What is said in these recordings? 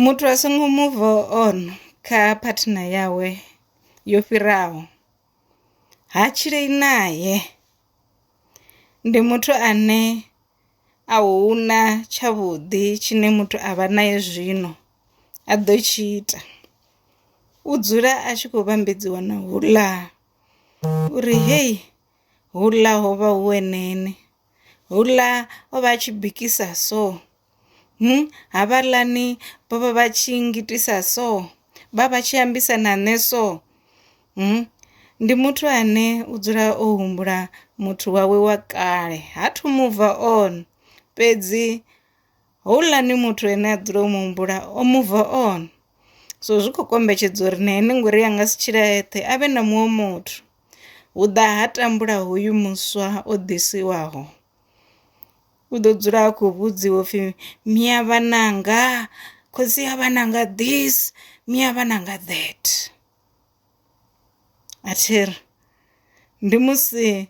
Muthu a songo muva on kha phathina yawe yo fhiraho, ha tshilei nae ndi muthu ane a huna tsha vhuḓi tshine muthu a vha nae zwino a ḓo tshi ita, u dzula a tshi kho vhambedziwa na houḽa uri heyi houḽa hovha hu eneni. houḽa o vha a tshi bikisa so havhaḽani vho vha vha tshi ngitisa so vha vha tshi ambisa na nṋe so ndi muthu ane u dzula o humbula muthu wawe wa kale ha thu muva on fhedzi houḽani muthu ene a dzula o mu humbula o move on so zwi khou kombetshedza uri na ene ngori a nga si tshila eṱhe a vhe na muṅwe muthu hu ḓa ha tambula hoyu muswa o ḓisiwaho u ḓo dzula a khou vhudziwa upfhi mia vhananga khotsi ya vhananga this mia vhananga that a thiri ndi musi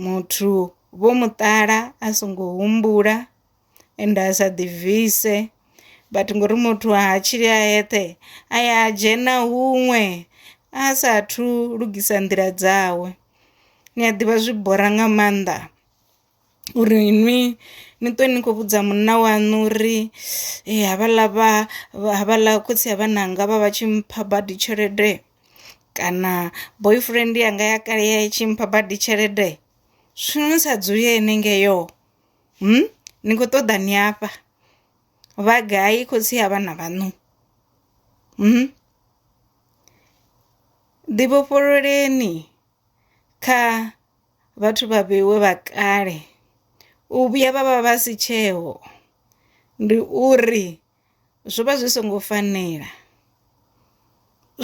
Muthu vho muṱala a songo humbula ende a sa ḓibvise but ngori muthu ha tshili a eṱhe a ya a dzhena huṅwe a sathu lugisa nḓila dzawe. Ni a ḓivha zwi bora nga maanḓa uri nwi ni ṱwe ni khou vhudza munna waṋu uri havhaḽa vha havhaḽa khotsi a vhananga vha vha tshi mpha badi tshelede. kana boyfriend yanga ya kale ya i tshi mpha badi tshelede zwino ni sa dzuli henengeyo ni kho ṱoḓa ni afha vha gai khotsi a vhana vhaṋu ḓi vhofhololeni kha vhathu vha vheiwe vha kale u vhuya vha vha vha si tsheho ndi uri. zwo vha zwi songo fanela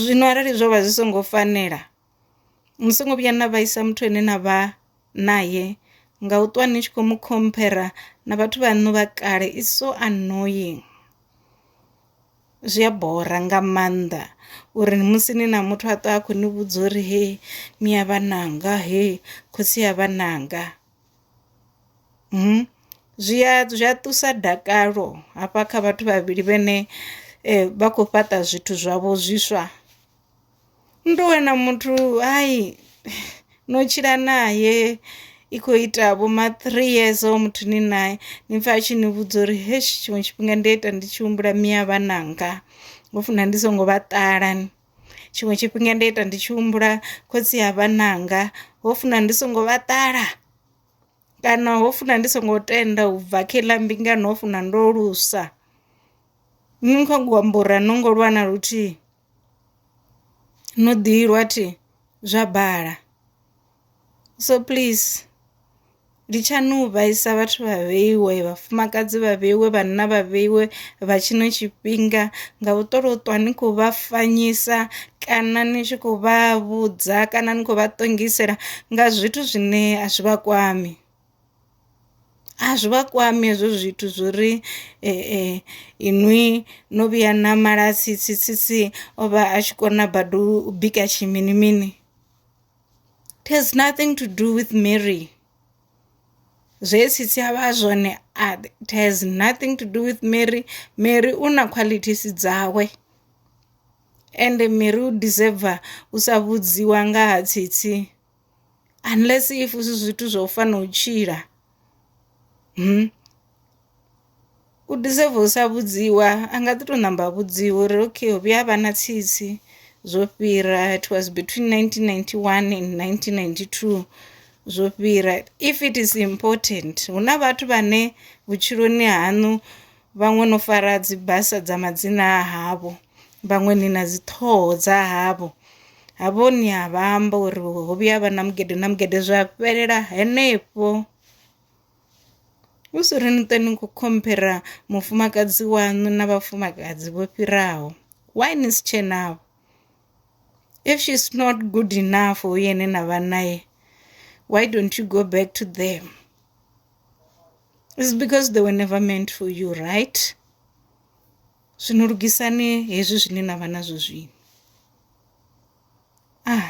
zwino arali zwo vha zwi songo fanela ni songo vhuya na vhaisa muthu ane na vha naye nga u ṱwa ni tshi kho mu khomphera na vhathu vhaṋu vha kale is so annoying. Zwi a bora nga maanḓa uri musi ni na muthu a ṱwa a khou ni vhudza uri he mia vhananga he khotsi a vhananga. Zwi ya zwi a ṱusa dakalo hafha kha vhathu vhavhili vhene vha khou fhaṱa zwithu zwavho zwiswa, ni tou wana muthu hayi no tshila nae i khou ita vho ma three years hoyo muthu ni nae ni pfha a tshi ni vhudza uri hetsho tshiṅwe tshifhinga ndi a ita ndi tshi humbula miya vhananga ho funa ndi songo vha ṱala. Tshiṅwe tshifhinga nda ita ndi tshi humbula khotsi a vhananga ho funa ndi songo vha ṱala kana ho funa ndi songo tenda u bva kha iḽa mbingano ho funa ndo lusa. Nṋe kha ku amba uri a no ngo lwa na luthihi no ḓi lwa thi zwa bala. so please ndi tshani u vhaisa vhathu vha vheiwe vhafumakadzi vha vheiwe vhanna vha vheiwe vha tshino tshifhinga nga u ṱolo ṱwa ni khou vha fanyisa kana ni tshi khou vha vhudza kana ni khou vha ṱongisela nga zwithu zwine a zwi vha kwami a zwi vha kwami hezwo zwithu zwo ri inwi no vhuya na mala tsitsi tsitsi o vha a tshi kona badi u bika tshi mini mini It has nothing to do with Mary. Zwe sisi a vha zwone a it has nothing to do with Mary. Mary u na qualities dzawe. Ende Mary u deserve u sa vhudziwa nga ha tsitsi unless if zwi zwithu zwa u fana u tshila. Hmm. U deserve u sa vhudziwa a nga ḓi to ṋamba a vhudziwa uri okay ho vhuya havha na tsitsi zwo fhira it was between nineteen ninety one and nineteen ninety two zwo fhira if it is important. Huna vhathu vhane vhutshiloni haṋu vhaṅwe no fara dzi basa dza madzina a havho vhaṅwe ni na dzi ṱhoho dza havho, havho ni a vha amba uri ho vhuya havha na mugede na mugede zwa fhelela henefho. Hu si ri ni ṱwe ni khou khomphera mufumakadzi waṋu na vhafumakadzi vho fhiraho. Why ni si tshe navho? If she's not good enough for uyo ane na vha nae, why don't you go back to them? It's because they were never meant for you, right? Zwino lugisani hezwi zwine na vha nazwo zwino. Ah.